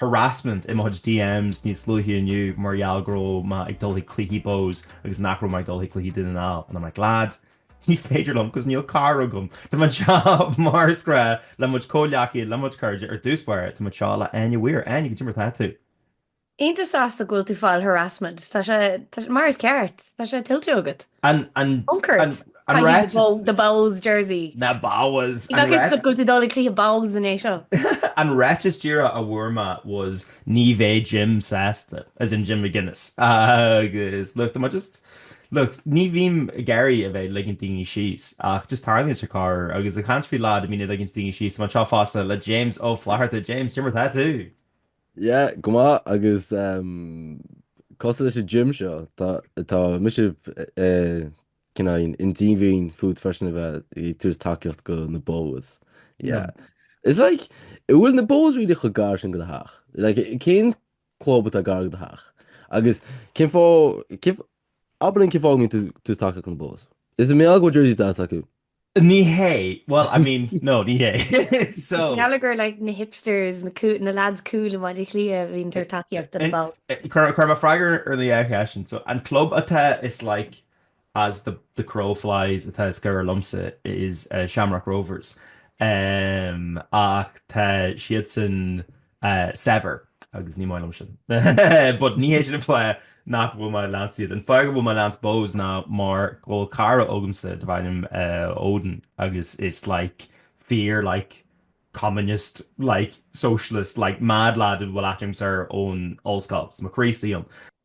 harassment, i mo DMs níos luaithe inniu mar gheall go raibh mé ag dul chuig cluichí Bohs agus nach raibh mé ag dul chuig cluichí Dún na nGall and I'm like lads ní féidir liom 'cause níl carr agam. Tá mise mar is gnách le mo comhleacaithe le mo chairde ar dtús báire tá mé anseo le Áine Weir. Áine, cad é mar atá tú? Iontach sásta go bhfuil tú fáil harassment tá sé mar is ceart tá sé tuillte agat. An, an, Concord. an Caithfidh ráiteas. bó- The Bohs jersey. Na Bohs! An Bheadh is ráit- go go tú dul ag cluiche Bohs in é seo. An ráiteas díreach a bhfuair mé was ní bheidh Jim sásta, as in Jim McGuinness. Agus, look, tá mé just, look, ní bhím ag iarraidh a bheith ag ligint daoine síos, ach just tarlaíonn sé corr, agus ag caint faoi daoine a bhíonn ag ligint daoine síos, tá mé anseo fosta le James Ó Flatharta. James, cad é mar atá tú? Yeah, go maith agus um, cosúil leis an Jim seo. Tá, tá mise uh, cineál díomách fút freisin a bheith ag tabhairt tacaíocht do na Bohs. Yeah. No. It's like, bhfuil na Bohs really chomh gar sin do do theach. Like, cén club atá gar do do theach? Agus cén fáth, cén fáth, abair linn cén fáth a mbíonn tú ag tabhairt tacaíocht do na Bohs? An é mar gheall go bhfuil jersey deas acu. Ní hé, bhuel, I mean, no, ní hé. So. I ngeall gur like na hipsters, na lads cool i mBaile Átha Cliath a bhíonn ag tabhairt tacaíocht do na Bohs. Tabharfaidh mé freagra ar an dhá cheist sin. So, an club atá is like as the crow flies atá is gaire liomsa is Shamrock Rovers. Ach tá siadsan Saibhir agus ní maith liom sin but ní hé sin an fáth nach bhfuil mé ag leanstan iad. An fáth go bhfuil mé ag leanstan Bohs ná mar go bhfuil cara agamsa darbh ainm Odin agus is like fear like communist like socialist like mad lad a bhfuil aithne agamsa air ón ollscoil. So mo chara Críostaí ann.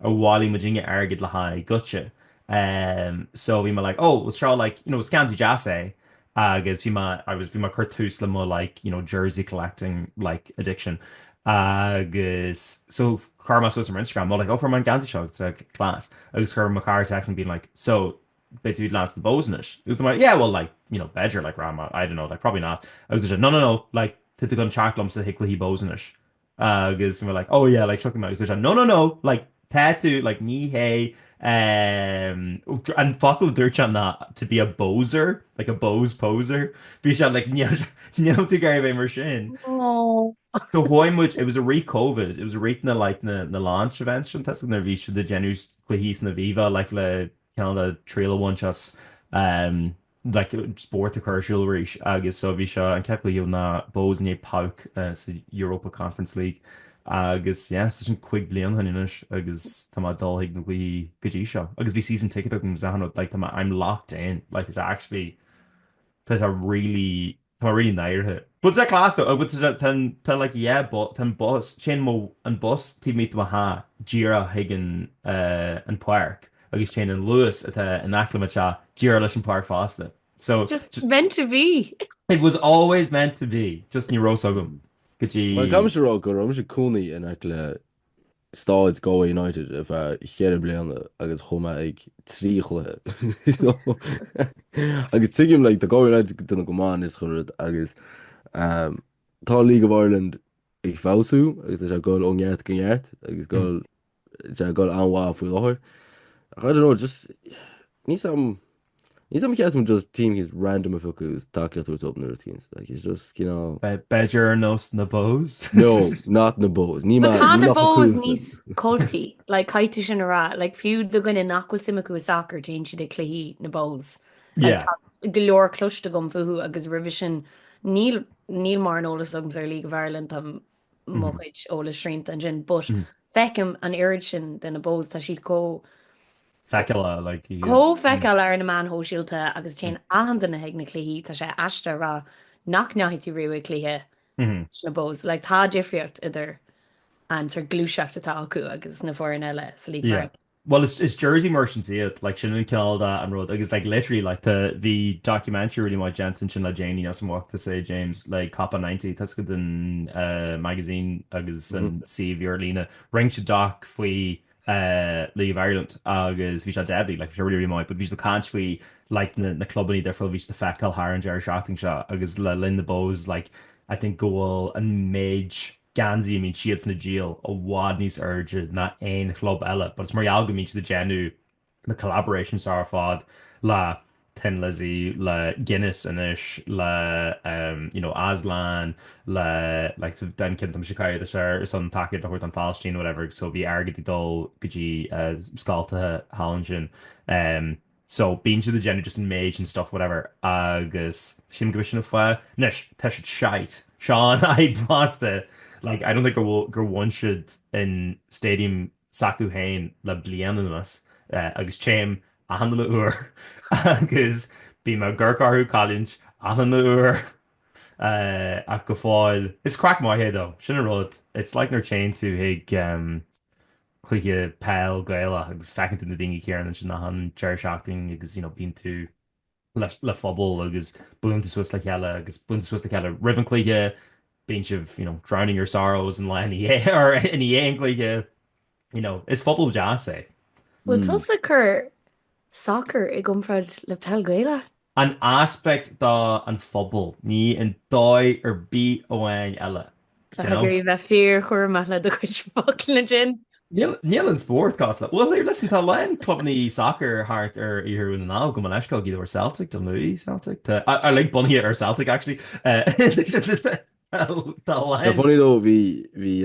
a bhailigh muid airgead le haghaidh Gaza ehm so bhí mé like oh was sure like you know was geansaí deas é agus bhí mé I was bhí mé ag cur tús le mo like you know jersey collecting like addiction agus so chuir mé suas ar m'Instagram mé like oh fuair mé an geansaí seo agus like class agus chuir mo chara text being like so beidh tú ag leanstan na Bohs anois agus mé like yeah well like you know b'fheidir like níl a fhios agam I don't know like probably not agus bhí sé no no no like tá tú ag dul a theacht liomsa chuig cluichí Bohs anois agus bhí mé like oh yeah like okay agus bhí sé no no no like tá tú like ní hé ehm an focal a dúirt sé ná to be a Bohser like a Bohs poser bhí sé like níl tú ag gabháil a bheith mar sin. So chuaigh muid it was i rith Covid it was i rith na like na launch events sin tá a fhios agat nuair a bhí siad ag déanamh cluichí san Aviva like le cineál de triail a bhaint as ehm like, spórt a chur ar siúl arís agus so ba é seo an chéad chluiche leis na Bohs in éadan PAOK sa Europa Conference League agus yeah, so sin cúig bliana ó shin anois agus tá mé ag dul chuig na gcluichí go dtí seo agus bhí season ticket agam agus achan rud, like tá mé, I'm locked in, like tá sé actually, tá sé really, Tá rí náirithe. Bhfuil sé cleas do? Bhfuil sé, tá an, tá like yeah bu, tá an bus, téann mo, an bus taobh amuigh de mo theach díreach chuig an eh, an páirc agus téann an Luas atá in aice mo teach díreach leis an páirc fosta. So Just j- meant to be. it was always meant to be, just ní raibh a fhios agam go dtí. Mar caithfidh mise a rá go raibh mise i mo chónaí in aice le Staid Galway United ar feadh cheithre bliana agus chuaigh mé ag trí chluiche. Agus tuigim like tá Galway United ag déanamh go maith anois chun rud agus tá League of Ireland ag feabhsú agus tá sé ag dul ó neart go neart agus go bhfuil sé ag dul an-mhaith faoi láthair. Ach I don't know just ní sam Ní dóigh liom an just team is random a phiocadh is tacaíocht a thabhairt open the root against like it's just cineál B'fhéidir ar nós na Bohs? No, not na Bohs. Ní But maith, tá ní na maith faoi Bohs cúl níos san. culty, like caithfidh tú sin a rá, like fiú do dhaoine nach bhfuil suim acu i sacar téann siad ag cluichí na Bohs. Like Yeah. tá go leor cloiste agam fúthu agus roimhe sin níl níl mórán eolais agam ar League of Ireland, tá mo chuid eolais srianta ansin, but feicim an oiread sin de na Bohs, tá siad chomh feiceálach, like, chomh feiceálach ar na meáin shóisialta agus téann achan duine chuig na cluichí, tá sé aisteach a rá nach ndeachaigh tú riamh chuig cluiche leis na Bohs, like, tá difríocht idir an sort gluaiseacht atá acu agus na foireann eile sa League Park. Bhuel is is Jersey Merchants iad, like sin an cineál dath an rud agus like literally like tá bhí documentary really maith déanta ansin le déanaí níl a fhios agam an bhfaca tusa é James le Copa 90 tá a fhios agat an eh, magazine agus an mm-hmm. suíomh ar líne rinne siad doc faoi eh, League of Ireland agus bhí sé deadly like bhí sé really really maith but bhí sé ag caint faoi like na, na clubannaí difriúla a bhí sé ag feiceáil thar an deireadh seachtaine seo agus le linn na Bohs like I think go bhfuil an méid geansaí a mbíonn siadsan ag díol i bhfad níos airde ná aon chlub eile but is mar gheall go mbíonn siad ag déanamh na collaborations seo ar fad le Thin Lizzy, le Guinness anois, le ehm you know Aslan, le like an ceann atá mise ag caitheamh anois ar ar son tacaíocht a thabhairt don Phalaistín whatever so bhí airgead ag dul go dtí eh scoltacha thall ansin ehm. So, bíonn siad ag déanamh just an méid sin stuff whatever agus sílim gurb é sin an fáth. Anois, tá siad shite. Seo an fhadhb fosta, like, I don't think go bhfuil, gur bhain siad an stadium s'acu féin le bliain anuas agus téim achan uile uair agus bíonn mé ag amharc orthu ag cailliúint achan uair ach go fóill. It's craic maith é though, sin an rud, it's like nuair téann tú chuig, cluiche peil Gaelach agus feiceann tú na daoine céanna ansin achan deireadh seachtaine agus you know bíonn tú le phobal agus buaileann tú suas le chéile agus buaileann tú suas le chéile roimh an cluiche bíonn sibh you know drowning your sorrows i ndiaidh or i ndiaidh an cluiche you know is pobal deas é. Bhfuil hmm. tusa ag cur sacar i gcomparáid le peil Gaelach? An aspect den phobal, ní an dóigh ar bith amháin eile. Caithfidh tú bheith fíor-chúramach le do chuid focla ansin. Níl an spórt casta. Bhuel, listen, tá a lán clubannaí sacair thart ar Iarthar Dhún na nGall, go mb'fhéidir go leor Celtic, Dún Lúiche Celtic, tá like bunaithe ar Celtic actually. Tá a lán. Ar ndóigh dó, bhí, bhí,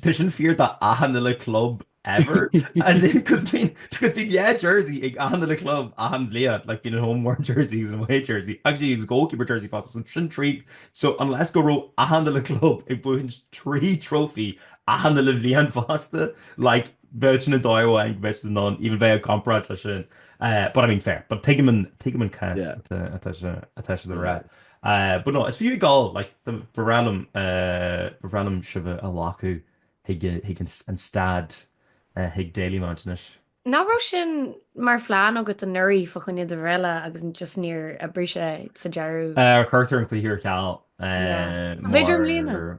Tá sin fíor do achan uile club ever. As in, 'cause bíonn, 'cause bíonn dhá jersey ag achan uile club achan bhliain, like bíonn an home one jersey agus an away jersey, actually agus goalkeeper jersey fosta, so sin trí, so unless go raibh achan uile club ag baint trí trophy achan uile bhliain fosta, like bheadh sin an dóigh amháin go mbeadh siad in ann even bheith ag comparáid leis sin. Eh, but I mean fair, but tuigim an, tuigim an cás Yeah. atá, atá sé, atá siad a rá. But no, is fiú ag gol, like, ba bhreá liom, ba bhreá liom sibh a ghlacadh chuig, chuig an, an staid, chuig Dalymount anois. Nach raibh sin mar phlean agat anuraidh fá choinne do bhreithlá agus just níor oibrigh sé sa deireadh? Cuireadh an cluiche ar ceal, mar. B'fhéidir i mbliana.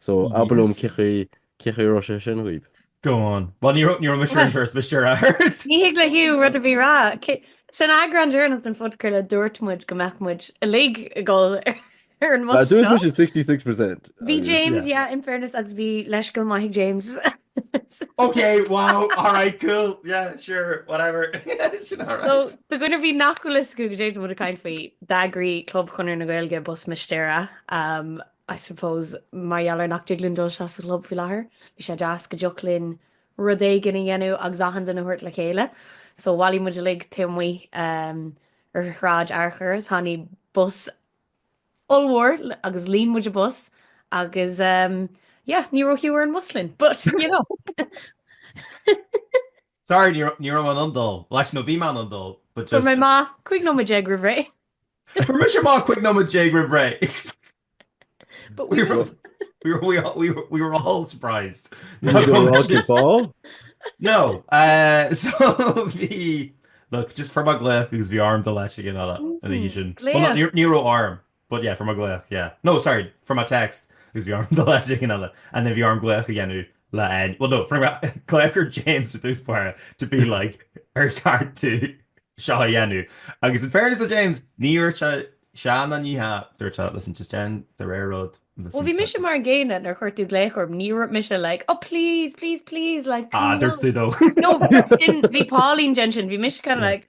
So abair liom cén chaoi a raibh sé sin daoibh. Go on. Bhuel ní raibh mé sure an turas but sure. Ní thig le Hugh rud ar bith a rá. San eagrán deireanach den phodchraoladh dúirt muid go mbeadh muid uilig ag dul ar an mbus seo. Dúirt muid 66%. Bhí James, yeah, in fairness, agus bhí leithscéal maith ag James. Ok, wow, alright, cool, yeah, sure, whatever. Sin alright. So, do dhuine ar bith nach bhfuil fhios acu cad é atá muid ag caint faoi, d'eagraigh Club Chonradh na Gaeilge bus Mistéire. I suppose mar gheall ar nach dtig linn dul isteach sa chlub faoi láthair, bhí sé deas go dtiocfadh linn rud éigin a dhéanamh agus achan duine a thabhairt le chéile. So bhailigh muid uilig taobh amuigh um ar Shráid Fhearchair is tháinig bus ollmhór agus líon muid an bus agus um yeah, ní raibh Hugh ar an bus linn, but you know. Sorry, ní raibh mé in ann dul, leis nó bhí mé in ann dul, but just fuair mé amach cúig nóiméad déag roimh ré. Fuair mise amach cúig nóiméad déag roimh ré. But we were, we were, we, all, we, were, we were all surprised. ball? No. Uh, so bhí... Look, just fuair mé glaoch agus bhí orm dul le duine eile ansin. Well, ní, ní raibh orm, but yeah, fuair mé glaoch, yeah. No, sorry, fuair mé text agus bhí orm dul le duine eile. And then bhí orm glaoch a dhéanamh le N. Bhuel nó fuair mé glaoch air James i dtús báire to be like ar cheart domh seo a dhéanamh? Agus in fairness do James ní dúirt sé sean an oíche, dúirt sé listen just déan do rogha rud listen Bhuel bhí mise mar an gcéanna nuair a chuir tú glaoch orm ní raibh mise like oh please please please like Ah dúirt tú dó. No bhí Pauline déan sin bhí mise kind of like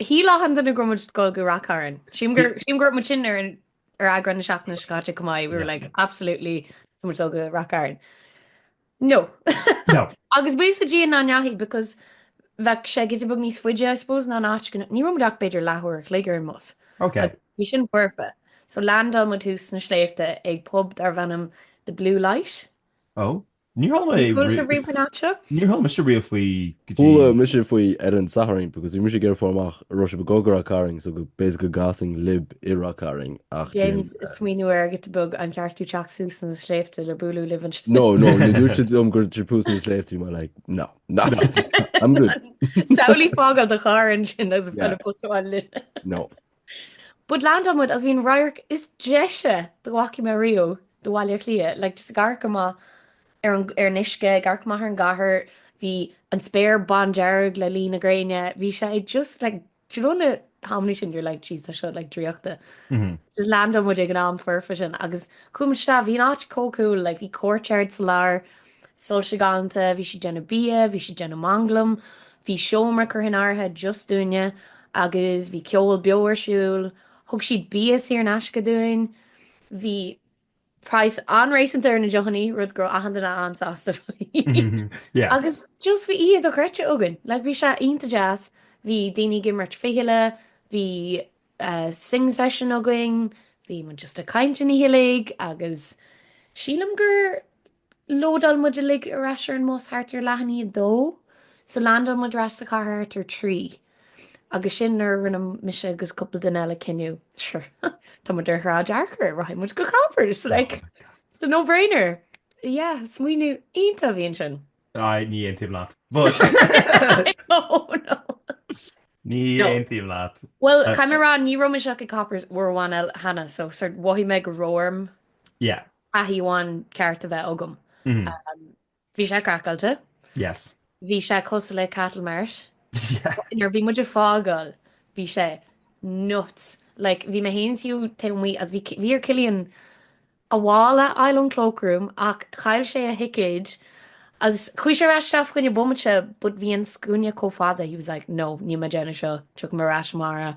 Shíl achan duine go raibh muid ag dul go Ráth Cairn. Sílim gur sílim gur dhúirt muid sin ar an ar eagrán na seachtaine seo caite chomh maith, we were like absolutely tá muid dul go Ráth Cairn. No. No. Agus buíochas le Dia nach ndeachaigh because bheadh sé giota beag níos faide I suppose ná an áit go ní raibh muid ach b'fhéidir leath uair a chloig ar an mbus. Ok. Agus bhí sin foirfe. So landáil muid thuas sna sléibhte ag pub darbh ainm The Blue Light. Oh. Níor chuala mé Níor chuala tú riamh faoin áit seo? Níor chuala mise riamh faoi go dtí. Chuala mise faoi ar an Satharn because bhí mise ag iarraidh fáil amach an raibh sibh ag gabháil go Ráth Cairn so go b'fhéidir go gcasfainn libh i Ráth Cairn ach bhí mé ag smaoineamh air giota beag an gceart dom teacht suas sna sléibhte le bualadh libh anseo. No no nuair a dúirt siad liom gur thuas sna sléibhte mé like no no I'm good. Samhlaigh fágáil do charr ansin agus bheith le posadh ann linn. No. But landáil muid is bhí an radharc is deise dá bhfaca mé riamh de Bhaile Átha Cliath, like just ag amharc amach ar an ar an uisce, ag amharc amach ar an gcathair, bhí an spéir bandearg le luí na gréine, bhí sé just like do you know na hamannaí sin you're like jeez tá seo like draíochta. Just landáil muid ag an am foirfe sin agus chuaigh muid isteach, bhí an áit chomh cool, like bhí courtyard sa lár, Soilse galánta, bhí siad déanamh bia, bhí siad déanamh manglaim, bhí seomra curtha in áirithe just dúinne agus bhí ceol beo ar siúl, thug siad bia saor in aisce dúinn, bhí praghas an-réasúnta ar na deochannaí, rud go raibh achan duine an-sásta faoi. Yes. Agus just bhí oíche dhochreidte againn, like bhí sé iontach deas, bhí daoine ag imirt fichille, bhí uh, singing session againn, bhí muid just ag caint an oíche uilig agus sílim gur Lódáil muid uilig ar ais ar an mbus thart ar leath i ndiaidh a dó, so landáil muid ar ais sa chathair thart ar trí. Agus sin nuair a rinne mise agus cúpla duine eile cinneadh, sure, tá muid ar Shráid Fhearchair, rachaidh muid go Coppers, like, it's a no brainer. Yeah, smaoineamh iontach a bhí ansin. Aye, ní aontaím leat, but. I know, I know. Ní aontaím leat. Bhuel, caithfidh mé a rá, ní raibh mise ach ag Coppers uair amháin eile cheana, so sort mhothaigh mé go raibh orm. Yeah, thaithí amháin ceart a bheith agam. Bhí sé craiceáilte. Yes. Bhí sé cosúil le cattle mart. Yeah. Nuair a bhí muid ag fágáil bhí sé nuts. Like bhí mé féin is Hugh taobh amuigh agus bhí bhí ar Cillian a mhála a fháil ón cloakroom ach chaill sé a thicéad agus chuaigh sé ar ais isteach fá choinne bomaite but bhí an scuaine chomh fada he was like no níl mé déanamh seo tiocfaidh mé ar ais amárach.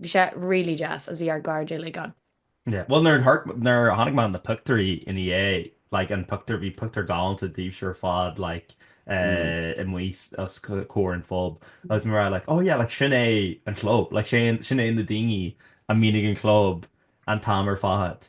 Bhí sé really deas is bhí ár gcairde uilig ann. Yeah bhuel nuair thart nuair a chonaic mé na pictiúirí ina dhiaidh like an pictiúr bhí pictiúr galánta daoibhse ar fad like eh amuigh os comhair an phob agus mé rá like oh yeah like sin é an club like sé sin é na daoine a mbíonn ag an club an t-am ar fad.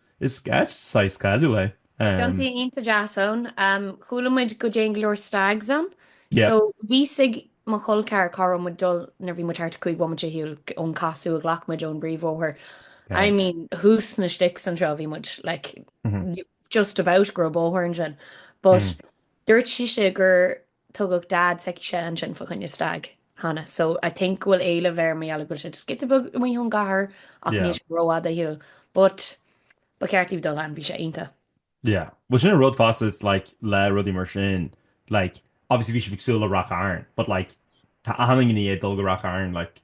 Is saghas cailleadh é. Tiontaí iontach deas ann. Chuala muid go dtéann go leor stags ann. So bhí a fhios ag mo chol ceathar cá raibh muid ag dul nuair a bhí muid thart cúig bhomaite ar shiúl ón casadh a ghlac muid ón bpríomhbhóthar. I mean thuas sna sticks anseo bhí muid like just about go raibh bóthar ansin. But dúirt sise gur Tugadh Dad s'aicise ansin fá choinne stag cheana so I think go bhfuil éileamh air mar gheall go bhfuil sé giota beag amuigh ón gcathair ach níl sé rófhada ar shiúl. But ba cheart daoibh dul ann, bhí sé iontach. Yeah. Bhuel sin an rud fosta is like le rudaí mar sin like obviously bhí sibh ag súil le Ráth Chairn but like tá achan duine ag dul go Ráth Chairn like.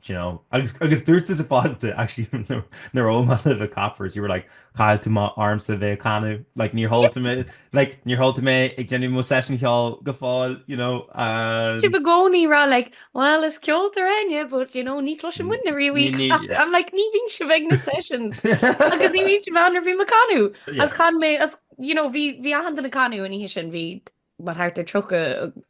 Do you know? Agus agus dúirt tusa i bhfad de actually nó nuair a bhuail mé libh ag Coppers you were like chaill tú amach ormsa a bheith ag canadh like níor chuala tú mé like níor chuala tú mé ag déanamh mo session cheoil go fóill you know Sibh and i gcónaí ag rá like well is ceoltóir Áine but you know ní chloiseann muidne riamh í Ní- ní- as- I'm like ní bhíonn sibh ag na sessions agus ní bhíonn sibh ann nuair a bhí mé ag canadh Yeah. is chan mé is you know bhí bhí achan duine ag canadh an oíche sin bhí mar thart ar 30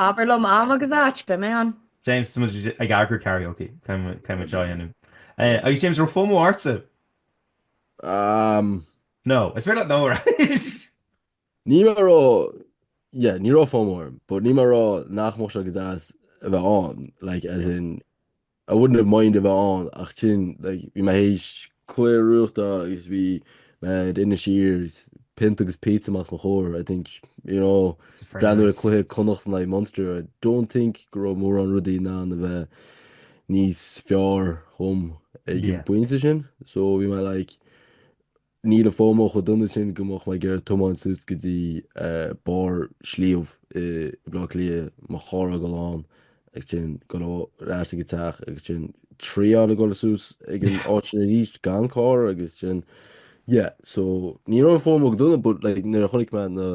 Abair liom am agus áit, beidh mé ann. James tá muid ag eagrú karaoke tá muid á dhéanamh. Eh, agus James an raibh FOMO ortsa? Um, No, is bhfuil nó Ní mar rá yeah, ní raibh FOMO orm, but ní mar rá nach mbeadh sé go deas a bheith ann, like as in I wouldn't have mind a bheith ann ach sin like bhí mé théis clár nuachta agus bhí mé ar Inis Oírr is pionta agus pizza amach os mo chomhair I think you know is ag breathnú ar nice. cluiche Connacht in aghaidh Munster I don't think go raibh mórán rudaí in ann a bheith níos fearr dhom ag an Yeah. bpointe sin so bhí mé like Níl an FOMO chomh dona sin go mbeadh mé ag iarraidh tiomáint suas go dtí barr sliabh i mBaile Átha Cliath, mo charr a fhágáil ann, agus ansin dul ar ais ag an teach, agus ansin triail a dhul suas ag an áit sin arís gan charr, agus ansin, yeah, so ní raibh an FOMO ródhona, but like nuair a chonaic mé na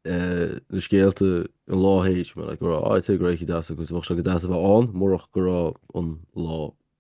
na scéalta an lá théis bhí mé, like go raibh, ah, ag tuigeadh go raibh oíche deas acu, bheadh sé go deas a bheith ann murach go raibh an lá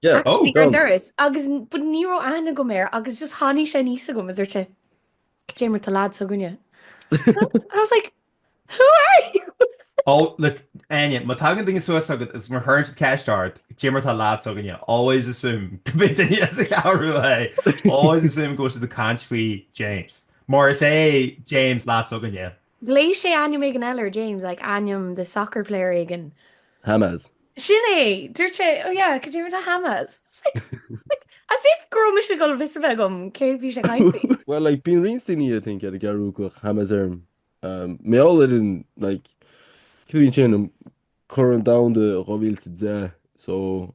Yeah, oh, Actually, ar an go. doras, agus n- but ní raibh aithne agam air, agus just tháinig sé aníos agam, is dúirt sé, Cad é mar tá lad s'againne? And I was like, who are you? Oh, look, Áine, má tagann duine suas agat is má chuireann siad ceist ort, cad é mar tá lad s'againne, always assume gurb é duine as an gCeathrú é. Always assume go bhfuil siad ag caint faoi James. Mar is é James lad s'againne. Ghlaoigh sé ainm éigin eile ar James, like ainm the soccer player éigin. Hammaz. Sin é! Dúirt sé, oh yeah, could you do Hammaz? I was like, like, as if go raibh mise ag dul fios a bheith agam cé bhí sé ag caint faoi. Well, like, bíonn roinnt daoine, I think, ar an gCeathrú ag glaoch Hammaz orm. Mar gheall ar an, like, cén bhliain é sin, Corn Domhanda 2010, so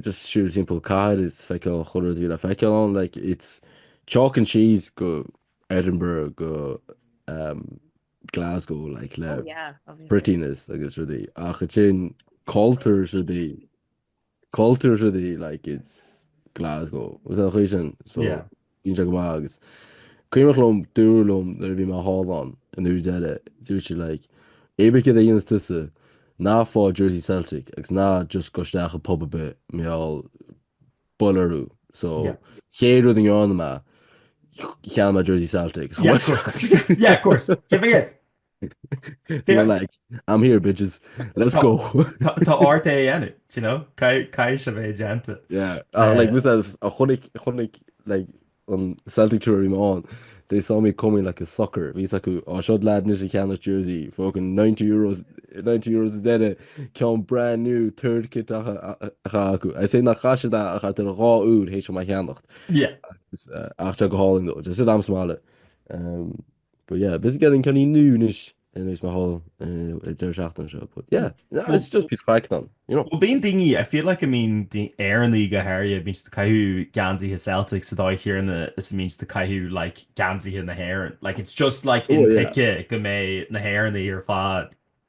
Just so simple cathair a fheiceáil an chéad rud a bhí le feiceál ann like it's chalk and cheese go Edinburgh go um, Glasgow like le Oh yeah, obviously. prettiness agus rudaí ach ó thaobh cultúr is rudaí cultúr is rudaí like it's Glasgow ar an gcaoi sin so Yeah. Bíonn sé go maith agus cuimhneach liom dúradh liom nuair a bhí mé thall ann an uair deireadh, dúirt siad like, cibé céard a dhéanas tusa, ná faigh jersey Celtic agus ná just gabh isteach i bpub ar bith mar gheall buailfear thú so chéad rud a ndearna mé, cheannaigh mé jersey Celtic. Yeah, of course. Yeah, of course. Cé mhéad? They're like, I'm here, bitches. Let's go. Tá ort é dhéanamh, you know? Caithfidh sé bheith déanta. Yeah. Uh, like, mar a chonaic, chonaic, like, an Celtic store mé ann. They saw me coming like a sucker. Bhí a fhios acu ah seo lad anois a cheannós jersey fucking 90 euros 90 euros ar an gceann brand new third kit atá acu. I say na chaise dá a chatar dhá úd hééis sem a cheannacht. Yeah. Ach tá sé go hálainn though. Just it am smile. Um, But yeah, busy getting ceann nua anois tar éis mo holiday deireadh seachtaine seo. But yeah, no, it's just píosa craic now, you know. Well, bíonn daoine, I feel like, I mean, Éireannaigh go háirithe, bíonn siad ag caitheamh geansaithe Celtic sa dóigh chéanna is a mbíonn siad ag caitheamh, like, geansaithe na hÉireann. Like, it's just, like, in oh, yeah. go mbeidh na hÉireannaigh ar fad.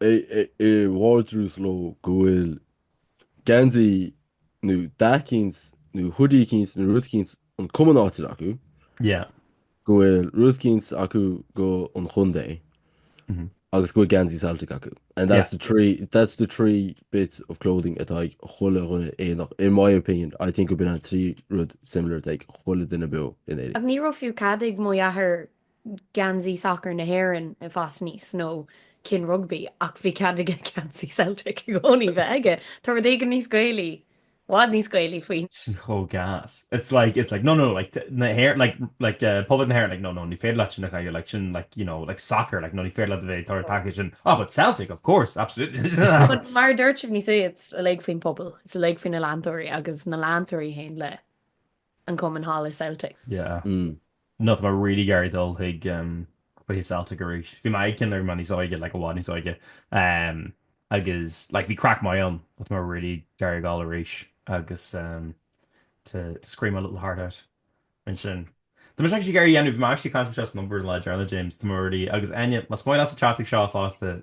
é i vardrús leo go bhfuil geansaí nó hata eicínt nó hoodie eicínt nó rud eicínt an cumann áitiúil acu, Yeah. go bhfuil rud eicínt acu don chontae Mhm. agus go bhfuil geansaí Celtic acu. And that's the three that's the three bits of clothing atá ag chuile dhuine éadach. In my opinion, I think go mbíonn an trí rud similar atá ag chuile duine beo in Éirinn. Ach ní raibh fiú cad ag mo dheathair geansaí sacair na hÉireann a fháil anois nó ceann rugbaí ach bhí cead aige geansaí Celtic i gcónaí bheith aige. Tá rud éigin níos Gaelaí, i bhfad níos Gaelaí faoi. Sin cóngas. It's like, it's like, no, no, like, na hÉir-, like, like, uh, pobal na hÉireann, like, no, no, ní féidir leat sin a chaitheamh, like, sin, like, you know, like, soccer, like, no, ní féidir leat a bheith ag tabhairt tacaíocht sin. Ah, but Celtic, of course, absolutely. But mar a dúirt sibh anois é, it's uilig faoin pobal, it's uilig faoin na leantóirí agus na leantóirí féin le. an cumann thall i Celtic. Yeah. Mm. No tá mé really ag iarraidh dul chuig em chuig Celtic arís. Bhí mé ag ceann nuair a bhí mé níos óige like i bhfad níos óige em agus like bhí craic maith ann but tá mé really ag iarraidh dul arís agus em to to scream my little heart out ansin. Tá mé actually ag iarraidh a dhéanamh, bhí mé actually ag caint faoi seo san obair an lá faoi dheireadh James, tá mé really agus Áine, más maith leat theacht chuig seo fosta,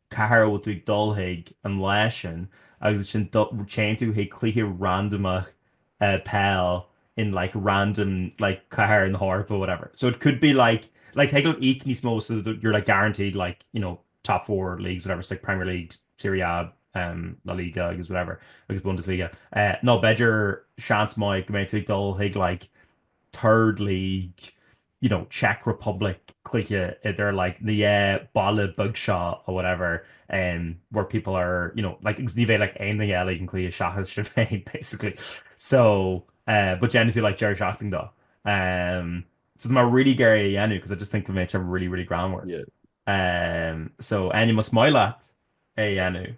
Cá háit a bhfuil tú ag dul chuig an lá sin agus ansin téann tú chuig cluiche randamach peile in like random like cathair san Eoraip or whatever. So it could be like like thig leat íoc níos mó so that you're like guaranteed like you know top four leagues whatever so like Premier League, Serie A, um La Liga agus whatever agus Bundesliga. Nó b'fhéidir seans maith go mbeadh tú ag dul chuig like third league you know, Czech Republic, cluiche idir like an dá bhaile bheag seo or whatever, um, where people are, you know, like agus ní bheadh like aon duine eile ag an gcluiche seachas sinn féin basically. So, uh, but yeah, obviously like deireadh seachtaine dó. Um, so tá mé really ag iarraidh é a dhéanamh because I just think it'd be really, really greannmhar. Yeah. Um, so, anyway, más maith leat é a dhéanamh,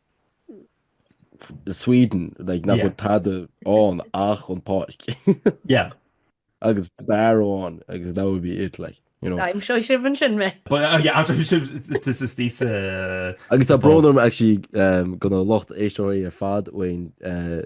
Sweden like, nach bhfuil tada an ach an páirc agus bearháin agus that would be it like. You know. I'm sure she wouldn't sin me. But uh, yeah, I'm sure she this is these uh Agus tá brónarm actually um, gona locht éisteoirí ar fad bhain uh,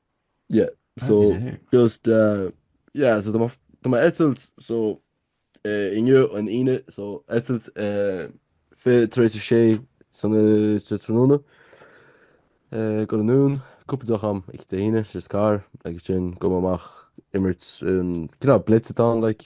Yeah, so just uh, yeah, so tá mar- tá mar eitilt so uh, inniu an Aoine, so eitilt uh, fiche tar éis a sé san uh, sa tráthnóna. Uh, dul anonn, cúpla deoch ann oíche Dé hAoine, just car, agus ansin dul amach ag imirt, um, you know, blitz atá, like,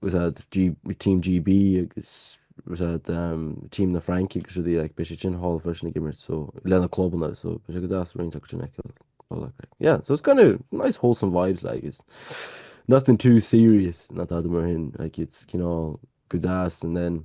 was at Team GB agus was at um, Team na Fraince agus rudaí like, beidh sé sin hall freisin ag imirt so, lena clubanna so beidh sé go deas roinnt agus sin aici yeah so it's kind of nice wholesome vibes like it's nothing too serious not that mar hin like it's you know go deas and then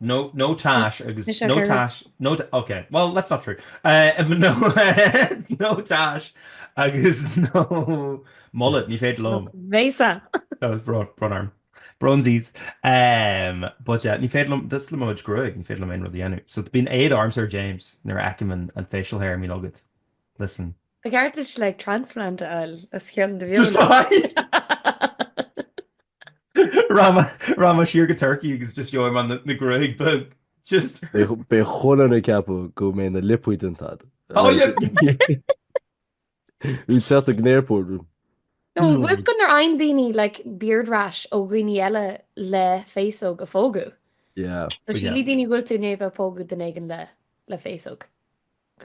No, no tash agus Is ea no Gerard. tash no ta- ok well that's not true Eh, but no no tash agus no mullet ní féidir liom Bhéasa! Oh, it's bro- brón orm. Brónsies. Um, but yeah, ní féidir liom, ó thaobh mo chuid gruaige, ní féidir liom aon rud a dhéanamh. So bíonn éad orm Sir James nuair a fheicim an, an facial hair mín agad. Listen. Ba cheart duit transplant a fháil os cionn do Just bheola. I. Rachaidh mé siar go Turkey agus just gheobhaidh mé na gruaigh beag. Just. Beidh chuile dhuine ag ceapadh go bhfuair mé na liopaí déanta. Oh yeah! Ag teacht ag an airport. No, bhfuil a fhios agat nuair a fhaigheann daoine like beard rash ó dhaoine eile le féasóg a phógadh. Yeah. Sílfidh daoine go bhfuil tú i ndiaidh a bheith ag pógadh duine éigin le féasóg.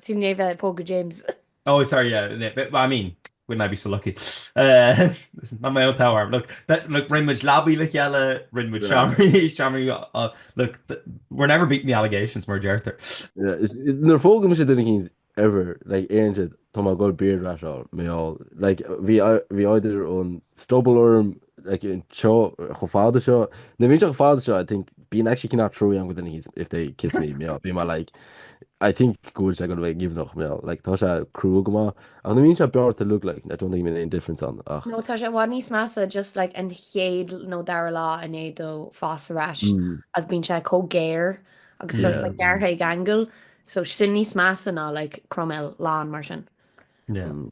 Sin Naomh Eilidh, Póga James. Oh sorry yeah I mean wouldn't I be so lucky uh listen not my own tower look that look ring much lobby like yellow ring much charming uh look we're never beating the allegations more Arthur yeah no fog much didn't he's ever like Aaron Tom go beard rash out me all like vi vi either on stubble orm like in cho cho father show the major father show I think being actually cannot throw young within his if they kiss me me up be my like I think cool I gotta give noch me like Tasha crew goma and the means I brought to look like I don't think any difference on uh no Tasha what nice massa just like and hade no dar law and a do fast rash mm. as being check co gear agus yeah. like gar angle so sin níos massa ná like Cromel lá mar sin yeah. Mm.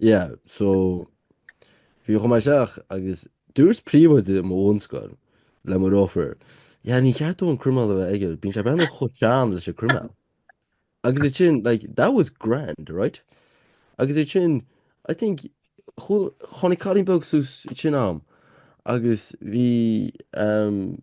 Yeah, so bhí, chuaigh mé isteach agus dúirt príomhoide i mo bhunscoil le mo dheartháir, yeah, ní ceart dó an croiméal a bheith aige, bíonn sé ag breathnú chomh sean leis an croiméal. Agus ansin, like, that was grand, right? Agus ansin, I think, tháinig cailín beag suas chugam, agus bhí, um,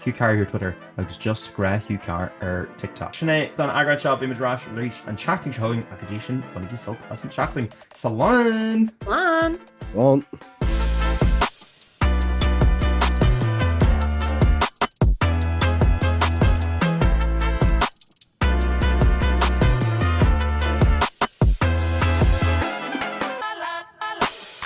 Hugh Carr ar Twitter agus just Grá Hugh Carr ar TikTok. Sin é don eagrán seo. Beimid ar ais arís an tseachtain seo chugainn ach go dtí sin bainigí sult as an tseachtain. Slán!